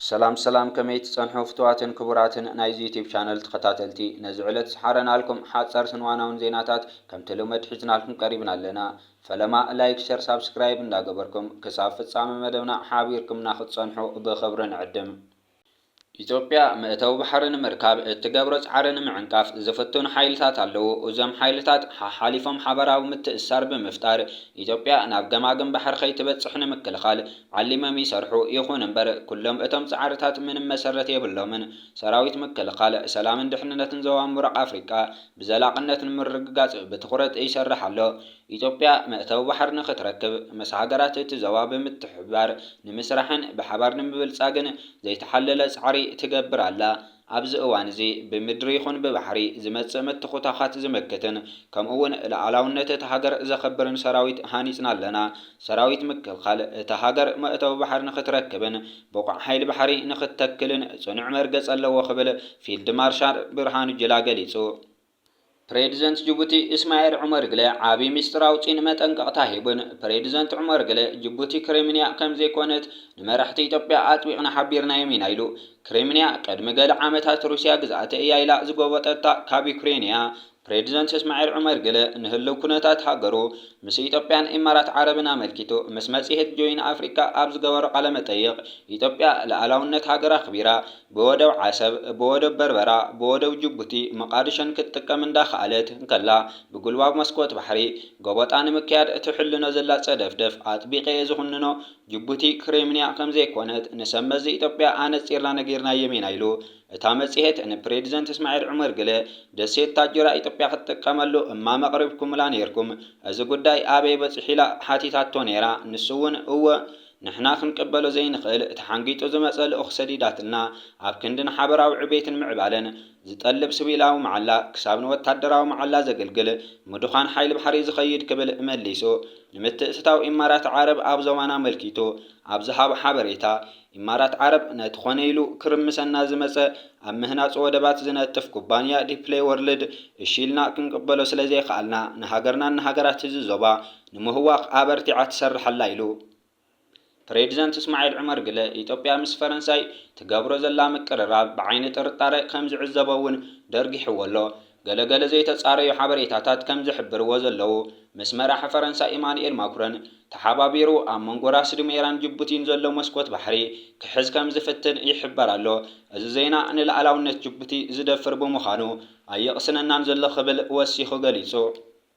ሰላም ሰላም ከመይ ትጸንሑ ፍቱዋትን ክቡራትን ናይዚ ዩቱብ ቻነል ተኸታተልቲ ነዚ ዕለት ዝሓረናልኩም ሓጸርትን ዋናውን ዜናታት ከምቲ ልመድ ሒዝናልኩም ቀሪብና ኣለና ፈለማ ላይክ ሸር ሳብስክራይብ እንዳገበርኩም ክሳብ ፍጻመ መደብና ሓቢርኩምና ክትጸንሑ ብኽብሪ ንዕድም። ኢትዮጵያ መእተዊ ባሕሪ ንምርካብ እትገብሮ ጻዕሪ ንምዕንቃፍ ዝፍትኑ ሓይልታት ኣለዉ። እዞም ሓይልታት ሓሓሊፎም ሓባራዊ ምትእስሳር ብምፍጣር ኢትዮጵያ ናብ ገማግም ባሕሪ ከይትበጽሕ ንምክልኻል ዓሊመም ይሰርሑ ይኹን እምበር ኩሎም እቶም ጻዕርታት ምንም መሰረት የብሎምን። ሰራዊት ምክልኻል፣ ሰላምን ድሕንነትን ዞባ ምብራቕ ኣፍሪቃ ብዘላቕነት ንምርግጋጽ ብትኹረት ይሰርሕ ኣሎ። ኢትዮጵያ መእተዊ ባሕሪ ንኽትረክብ ምስ ሃገራት እቲ ዞባ ብምትሕብባር ንምስራሕን ብሓባር ንምብልጻግን ዘይተሓለለ ጻዕሪ ትገብር ኣላ። ኣብዚ እዋን'ዚ ብምድሪ ይኹን ብባሕሪ ዝመጽእ ምትኹታዃት ዝምክትን ከምኡ'ውን ልኣላውነት እታ ሃገር ዘኸብርን ሰራዊት ሃኒጽና ኣለና። ሰራዊት ምክልኻል እታ ሃገር መእተዊ ባሕሪ ንኽትረክብን ብቑዕ ሓይሊ ባሕሪ ንኽትተክልን ጽኑዕ መርገጺ ኣለዎ ክብል ፊልድ ማርሻል ብርሃኑ ጁላ ገሊጹ። ፕሬዚደንት ጅቡቲ ኢስማኤል ዑመር ግለ ዓብዪ ሚስጥር ኣውጺኡን መጠንቀቕታ ሂቡን። ፕሬዚደንት ዑመር ግለ ጅቡቲ ክሬሚንያ ከም ዘይኮነት ንመራሕቲ ኢትዮጵያ ኣጥቢቕና ሓቢርናዮም ኢና ኢሉ። ክሬሚንያ ቅድሚ ገለ ዓመታት ሩስያ ግዝኣተይ እያ ኢላ ዝጎበጠታ ካብ ዩክሬን እያ። ፕሬዚደንት ኢስማኤል ዑመር ግለ ንህልው ኩነታት ሃገሩ ምስ ኢትዮጵያን ኢማራት ዓረብን ኣመልኪቱ ምስ መጽሄት ጆይን ኣፍሪካ ኣብ ዝገበሮ ቃለ መጠይቕ ኢትዮጵያ ልኣላውነት ሃገር ኣኽቢራ ብወደብ ዓሰብ፣ ብወደብ በርበራ፣ ብወደብ ጅቡቲ መቓድሾን ክትጥቀም እንዳኸኣለት እንከላ፣ ብጉልባብ መስኮት ባሕሪ ጎበጣ ንምክያድ እትሕልኖ ዘላ ጸደፍደፍ ኣጥቢቐ'የ ዝኹንኖ። ጅቡቲ ክሬምንያ ከምዘይኮነት ንሰብመዚ ኢትዮጵያ ኣነጺርና ነጊርናዮም ኢና ኢሉ እታ መጽሔት ንፕሬድዘንት እስማዒል ዑመር ግለ ደሴት ታጁራ ኢትዮጵያ ክትጥቀመሉ እማመ ኣቕሪብኩምላ ኔርኩም እዚ ጉዳይ ኣበይ በጺሑ ኢላ ሓቲታቶ ኔራ ንሱ'ውን እወ ንሕና ክንቅበሎ ዘይንኽእል እቲ ሓንጊጡ ዝመጸ ልኡኽ ሰዲዳትልና ኣብ ክንዲ ንሓበራዊ ዕቤትን ምዕባለን ዝጠልብ ስቪላዊ መዓላ ክሳብ ንወታደራዊ መዓላ ዘገልግል ምዱኻን ሓይሊ ባሕሪ ዝኸይድ ክብል መሊሱ ንምትእትታው ኢማራት ዓረብ ኣብ ዞባና ኣመልኪቱ ኣብ ዝሃቦ ሓበሬታ ኢማራት ዓረብ ነቲ ኮነ ኢሉ ክርምሰና ዝመጸ ኣብ ምህናጽ ወደባት ዝነጥፍ ኩባንያ ዲፕሌይ ወርልድ እሺ ኢልና ክንቅበሎ ስለዘይከኣልና ንሃገርናን ንሃገራት እዚ ዞባ ንምህዋኽ ኣበርቲዓ ትሰርሕ ኣላ ኢሉ። ፕሬዚደንት እስማዒል ዑመር ግለ ኢትዮጵያ ምስ ፈረንሳይ ትገብሮ ዘላ ምቅርራብ ብዓይኒ ጥርጣረ ከም ዝዕዘቦ እውን ደርጊሕዎ ኣሎ። ገለ ገለ ዘይተፃረዩ ሓበሬታታት ከም ዝሕብርዎ ዘለዉ ምስ መራሒ ፈረንሳ ኢማኑኤል ማኩረን ተሓባቢሩ ኣብ መንጎ ራስ ዱሜራን ጅቡቲን ዘሎ መስኮት ባሕሪ ክሕዝ ከም ዝፍትን ይሕበር ኣሎ። እዚ ዜና ንልኣላውነት ጅቡቲ ዝደፍር ብምዃኑ ኣየቕስነናን ዘሎ ክብል ወሲኹ ገሊፁ።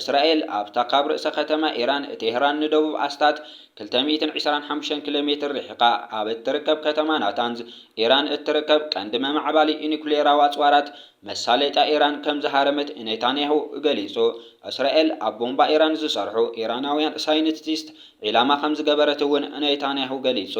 እስራኤል ኣብታ ካብ ርእሰ ከተማ ኢራን ቴህራን ንደቡብ ኣስታት ክልተ ሚእትን ዕስራን ሓሙሽተን ኪሎ ሜትር ርሒቓ ኣብ እትርከብ ከተማ ናታንዝ፣ ኢራን እትርከብ ቀንዲ መማዕባሊ ኒዩክሌራዊ ኣጽዋራት፣ መሳለጥያ ኢራን ከም ዝሃረመት ኔታንያሁ ገሊጹ። እስራኤል ኣብ ቦምባ ኢራን ዝሰርሑ ኢራናውያን ሳይንቲስት ዒላማ ከም ዝገበረት'ውን ኔታንያሁ ገሊጹ።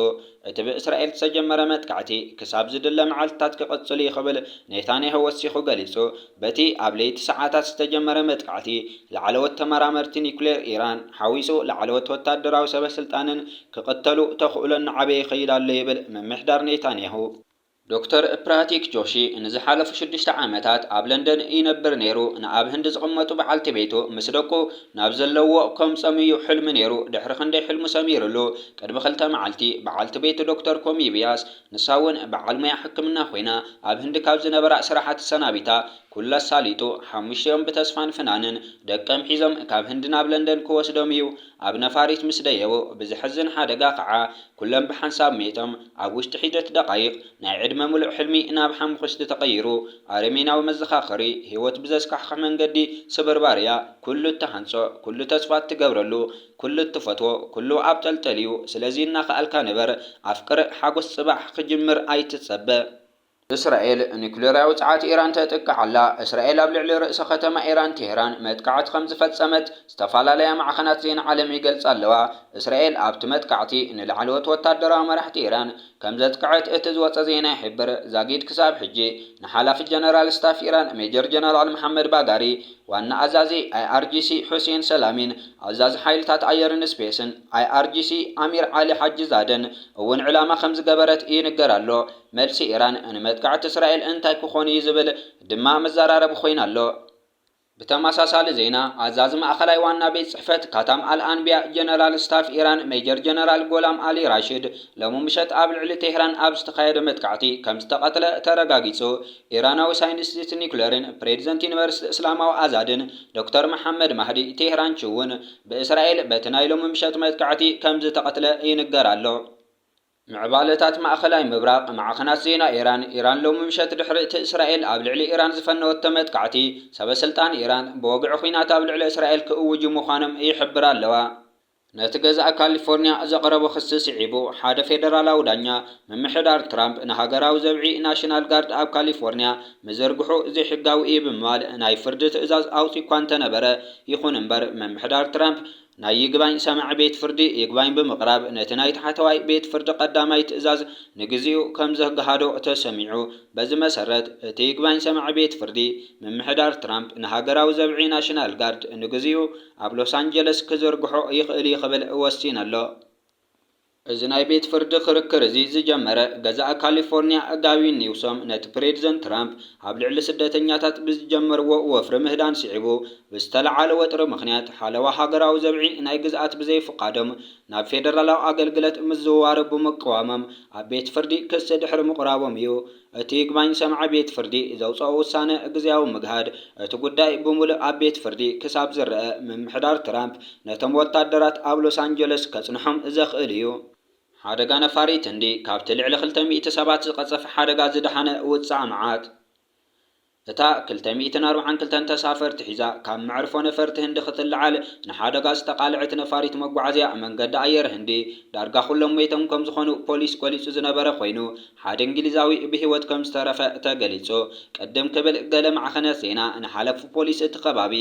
እቲ ብእስራኤል ዝተጀመረ መጥቃዕቲ ክሳብ ዝድለ መዓልትታት ክቕጽል እዩ ክብል ኔታንያሁ ወሲኹ ገሊጹ። በቲ ኣብ ለይቲ ሰዓታት ዝተጀመረ መጥቃዕቲ፣ ላዕለዎት ተመራመርቲ ኒዩክሌር ኢራን ሓዊሱ ላዕለዎት ወተሃደራዊ ሰበስልጣንን ክቕተሉ ተኽእሎ እናዓበየ ይኸይድ ኣሎ ይብል ምምሕዳር ኔታንያሁ። ዶክተር ፕራቲክ ጆሺ ንዝሓለፉ ሽዱሽተ ዓመታት ኣብ ለንደን ይነብር ነይሩ። ንኣብ ህንዲ ዝቕመጡ በዓልቲ ቤቱ ምስ ደቁ ናብ ዘለዉዎ ከምጽኦም እዩ ሕልሚ ነይሩ። ድሕሪ ክንደይ ሕልሙ ሰሚርሉ። ቅድሚ ክልተ መዓልቲ በዓልቲ ቤቱ ዶክተር ኮሚ ቪያስ፣ ንሳ እውን በዓል ሞያ ሕክምና ኮይና፣ ኣብ ህንዲ ካብ ዝነበራ ስራሓት ተሰናቢታ ኩሉ ኣሳሊጡ ሓሙሽቲኦም ብተስፋን ፍናንን ደቀም ሒዞም ካብ ህንዲ ናብ ለንደን ክወስዶም እዩ ኣብ ነፋሪት ምስ ደየቡ ብዘሕዝን ሓደጋ ከኣ ኩሎም ብሓንሳብ ሜይቶም፣ ኣብ ውሽጢ ሒደት ደቓይቕ፣ ናይ ዕድመ ምሉእ ሕልሚ ናብ ሓሙኹሽቲ ተቐይሩ፣ ኣረሜናዊ መዘኻኸሪ ህይወት ብዘስካሕኽሕ መንገዲ ስብርባር እያ፣ ኩሉ እትሃንጾ፣ ኩሉ ተስፋ እትገብረሉ፣ ኩሉ እትፈትዎ፣ ኩሉ ኣብ ጠልጠል እዩ፣ ስለዚ እናኸኣልካ ንበር፣ ኣፍቅር፣ ሓጎስ ጽባሕ ክጅምር ኣይትጸበ። እስራኤል ኑክሌራዊ ጸዓት ኢራን ተጥቅዕ ኣላ፣ እስራኤል ኣብ ልዕሊ ርእሰ ከተማ ኢራን ቴህራን መጥቃዕቲ ከም ዝፈጸመት ዝተፈላለያ ማዕኸናት ዜና ዓለም ይገልጻ ኣለዋ። እስራኤል ኣብቲ መጥቃዕቲ ንላዕለዎት ወታደራዊ መራሕቲ ኢራን ከም ዘጥቅዐት እቲ ዝወጸ ዜና ይሕብር። ዛጊድ ክሳብ ሕጂ ንሓላፊ ጀነራል ስታፍ ኢራን ሜጀር ጀነራል መሓመድ ባጋሪ፣ ዋና ኣዛዚ IRGC ሑሴን ሰላሚን ኣዛዚ ሓይልታት ኣየርን ስፔስን IRGC ኣሚር ዓሊ ሓጂዛደን እውን ዒላማ ከም ዝገበረት ይንገር ኣሎ። መልሲ ኢራን ንመጥቃዕቲ እስራኤል እንታይ ክኾን እዩ ዝብል ድማ መዘራረቢ ኮይኑ ኣሎ። ብተመሳሳሊ ዜና፣ ኣዛዚ ማእከላይ ዋና ቤት ጽሕፈት ካታም ኣል-ኣንብያ ጀነራል ስታፍ ኢራን ሜጀር ጀነራል ጎላም ኣሊ ራሺድ ሎሚ ምሸት ኣብ ልዕሊ ቴህራን ኣብ ዝተኻየደ መጥቃዕቲ ከምዝተቐትለ ተረጋጊጹ። ኢራናዊ ሳይንቲስት ኒኩለርን ፕሬዚደንት ዩኒቨርሲቲ እስላማዊ ኣዛድን ዶክተር መሓመድ ማህዲ ቴህራንቺ'ውን ብእስራኤል በቲ ናይ ሎሚ ምሸት መጥቃዕቲ ከምዝተቐትለ ይንገር ኣሎ። ምዕባለታት ማእኸላይ ምብራቕ፣ ማዕኸናት ዜና ኢራን፣ ኢራን ሎሚ ምሸት ድሕሪ'ቲ እስራኤል ኣብ ልዕሊ ኢራን ዝፈነወቶ መጥቃዕቲ፣ ሰበስልጣን ኢራን ብወግዒ ኲናት ኣብ ልዕሊ እስራኤል ክእውጁ ምዃኖም ይሕብራ ኣለዋ። ነቲ ገዛኢ ካሊፎርንያ ዘቕረቦ ክሲ ስዒቡ፣ ሓደ ፌደራላዊ ዳኛ፣ ምምሕዳር ትራምፕ ንሃገራዊ ዘብዒ፣ ናሽናል ጋርድ፣ ኣብ ካሊፎርንያ ምዝርግሑ ዘይሕጋዊ'ዩ ብምባል ናይ ፍርዲ ትእዛዝ ኣውጺኡ'ኳ እንተነበረ፣ ይኹን እምበር ምምሕዳር ትራምፕ ናይ ይግባኝ ሰማዒ ቤት ፍርዲ ይግባኝ ብምቕራብ ነቲ ናይ ታሕተዋይ ቤት ፍርዲ ቀዳማይ ትእዛዝ ንግዚኡ ከም ዘግሃዶ ተሰሚዑ። በዚ መሰረት እቲ ይግባኝ ሰማዒ ቤት ፍርዲ ምምሕዳር ትራምፕ ንሃገራዊ ዘብዒ ናሽናል ጋርድ ንግዚኡ ኣብ ሎስ ኣንጀለስ ክዝርግሖ ይኽእል'ዩ ክብል ወሲኑ'ሎ። እዚ ናይ ቤት ፍርዲ ክርክር እዚ ዝጀመረ ገዛኢ ካሊፎርኒያ ጋዊን ኒውሶም ነቲ ፕሬድዘንት ትራምፕ ኣብ ልዕሊ ስደተኛታት ብዝጀመርዎ ወፍሪ ምህዳን ስዒቡ ብዝተለዓለ ወጥሪ ምኽንያት ሓለዋ ሃገራዊ ዘብዒ ናይ ግዝኣት ብዘይፍቃዶም ናብ ፌደራላዊ ኣገልግለት ምዝውዋር ብምቅዋሞም ኣብ ቤት ፍርዲ ክሲ ድሕሪ ምቕራቦም እዩ። እቲ ይግባኝ ሰማዒ ቤት ፍርዲ ዘውፀኦ ውሳነ ግዝያዊ ምግሃድ እቲ ጉዳይ ብሙልእ ኣብ ቤት ፍርዲ ክሳብ ዝረኣ ምምሕዳር ትራምፕ ነቶም ወታደራት ኣብ ሎስ ኣንጀለስ ከፅንሖም ዘኽእል እዩ። ሓደጋ ነፋሪት ህንዲ፣ ካብቲ ልዕሊ ክልተ ሚእቲ ሰባት ዝቐፀፈ ሓደጋ ዝደሓነ ውፃእ መዓት። እታ ክልተ ሚእትን ኣርብዓን ክልተን ተሳፈርቲ ሒዛ ካብ መዕርፎ ነፈርቲ ህንዲ ክትለዓል ንሓደጋ ዝተቓልዐት ነፋሪት መጓዓዝያ መንገዲ ኣየር ህንዲ፣ ዳርጋ ኩሎም ሞይቶም ከምዝኾኑ ፖሊስ ገሊጹ ዝነበረ ኮይኑ፣ ሓደ እንግሊዛዊ ብህይወት ከምዝተረፈ ተገሊጹ። ቅድም ክብል ገለ ማዕኸናት ዜና ንሓለፍፉ ፖሊስ እቲ ከባቢ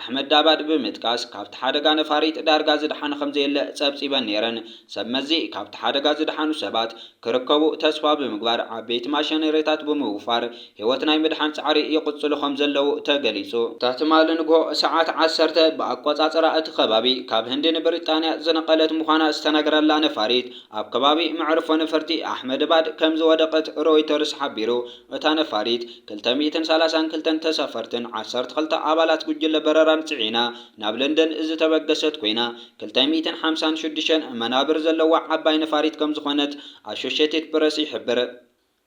ኣሕመዳባድ ብምጥቃስ ካብቲ ሓደጋ ነፋሪት ዳርጋ ዝደሓነ ከምዘየለ ጸብጺበን ነይረን። ሰብ መዚ ካብቲ ሓደጋ ዝደሓኑ ሰባት ክርከቡ ተስፋ ብምግባር ዓበይቲ ማሸነሪታት ብምውፋር ህይወት ናይ ምድሓን ጻዕሪ ይቕጽሉ ከም ዘለዉ ተገሊጹ። እታ ትማሊ ንግሆ ሰዓት ዓሰርተ ብኣቆጻጽራ እቲ ከባቢ ካብ ህንዲ ንብሪጣንያ ዝነቐለት ምዃና ዝተነግረላ ነፋሪት ኣብ ከባቢ መዕርፎ ነፈርቲ ኣሕመድባድ ከም ዝወደቐት ሮይተርስ ሓቢሩ። እታ ነፋሪት ክልተ ሚእትን ሰላሳን ክልተን ተሳፈርትን ዓሰርተ ክልተ ኣባላት ጉጅለ በረራን ጽዒና ናብ ለንደን ዝተበገሰት ኮይና ክልተ ሚእትን ሓምሳን ሽዱሽተን መናብር ዘለዋ ዓባይ ነፋሪት ከም ዝኾነት ኣሾሸትድ ፕረስ ይሕብር።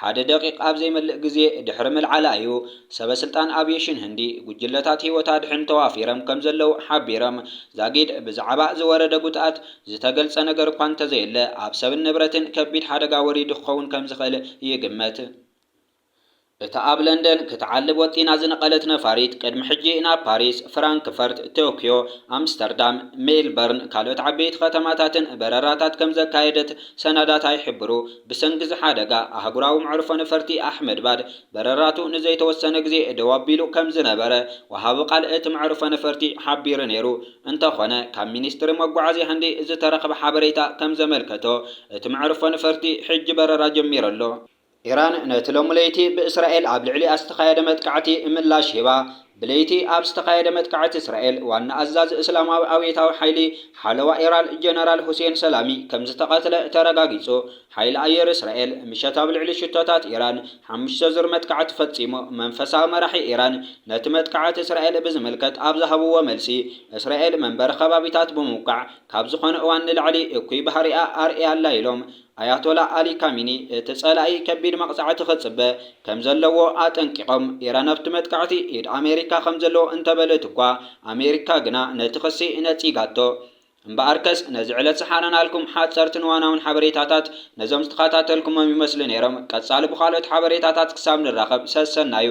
ሓደ ደቒቕ ኣብ ዘይመልእ ግዜ ድሕሪ ምልዓላ እዩ ሰበስልጣን ኣቪየሽን ህንዲ ጉጅለታት ህይወት ኣድሕን ተዋፊርም ከምዘለዉ ሓቢርም። ዛጊድ ብዛዕባ ዝወረደ ጉድኣት ዝተገልጸ ነገር እኳ እንተዘየለ፣ ኣብ ሰብን ንብረትን ከቢድ ሓደጋ ወሪዱ ክኸውን ከምዝኽእል ይግመት። እታ ኣብ ለንደን ክትዓልብ ወጢና ዝነቐለት ነፋሪት ቅድሚ ሕጂ ናብ ፓሪስ፣ ፍራንክፈርት፣ ቶክዮ፣ ኣምስተርዳም፣ ሜልበርን ካልኦት ዓበይቲ ከተማታትን በረራታት ከምዘካየደት ሰነዳት ኣይሕብሩ። ብሰንኪ'ዚ ሓደጋ፣ ኣህጉራዊ መዕርፎ ነፈርቲ ኣሕመድባድ በረራቱ ንዘይተወሰነ ግዜ ደው ኣቢሉ ከም ዝነበረ ወሃቢ ቃል እቲ መዕርፎ ነፈርቲ ሓቢሩ ነይሩ። እንተኾነ፣ ካብ ሚኒስትሪ መጓዓዝያ ህንዲ ዝተረኽበ ሓበሬታ ከም ዘመልከቶ፣ እቲ መዕርፎ ነፈርቲ ሕጂ በረራ ጀሚሩ ኣሎ። ኢራን ነቲ ሎሚ ለይቲ ብእስራኤል ኣብ ልዕሊኣ ዝተኻየደ መጥቃዕቲ ምላሽ ሂባ፣ ብለይቲ ኣብ ዝተኻየደ መጥቃዕቲ እስራኤል፣ ዋና ኣዛዚ እስላማዊ ኣብዮታዊ ሓይሊ ሓለዋ ኢራን ጀነራል ሁሴን ሰላሚ ከምዝተቐትለ ተረጋጊጹ። ሓይሊ ኣየር እስራኤል፣ ምሸት ኣብ ልዕሊ ሽቶታት ኢራን ሓሙሽተ ዙር መጥቃዕቲ ፈጺሙ። መንፈሳዊ መራሒ ኢራን ነቲ መጥቃዕቲ እስራኤል ብዝምልከት ኣብ ዝሃብዎ መልሲ፣ እስራኤል መንበሪ ከባቢታት ብምውቃዕ ካብ ዝኾነ እዋን ንላዕሊ እኩይ ባህሪኣ ኣርእያ ኣላ ኢሎም። ኣያቶላ ኣሊ ካሚኒ እቲ ጸላኢ ከቢድ መቕጻዕቲ ክጽበ ከም ዘለዎ ኣጠንቂቖም፣ ኢራን ኣብቲ መጥቃዕቲ ኢድ ኣሜሪካ ከም ዘለዎ እንተበለት'ኳ፣ ኣሜሪካ ግና ነቲ ክሲ ነጺጋቶ። እምበኣርከስ ነዚ ዕለት ዝሓረናልኩም ሓጸርትን እዋናውን ሓበሬታታት ነዞም ዝተኸታተልኩሞም ይመስሉ ነይሮም። ቀጻሊ ብኻልኦት ሓበሬታታት ክሳብ ንራኸብ ሰሰናዩ።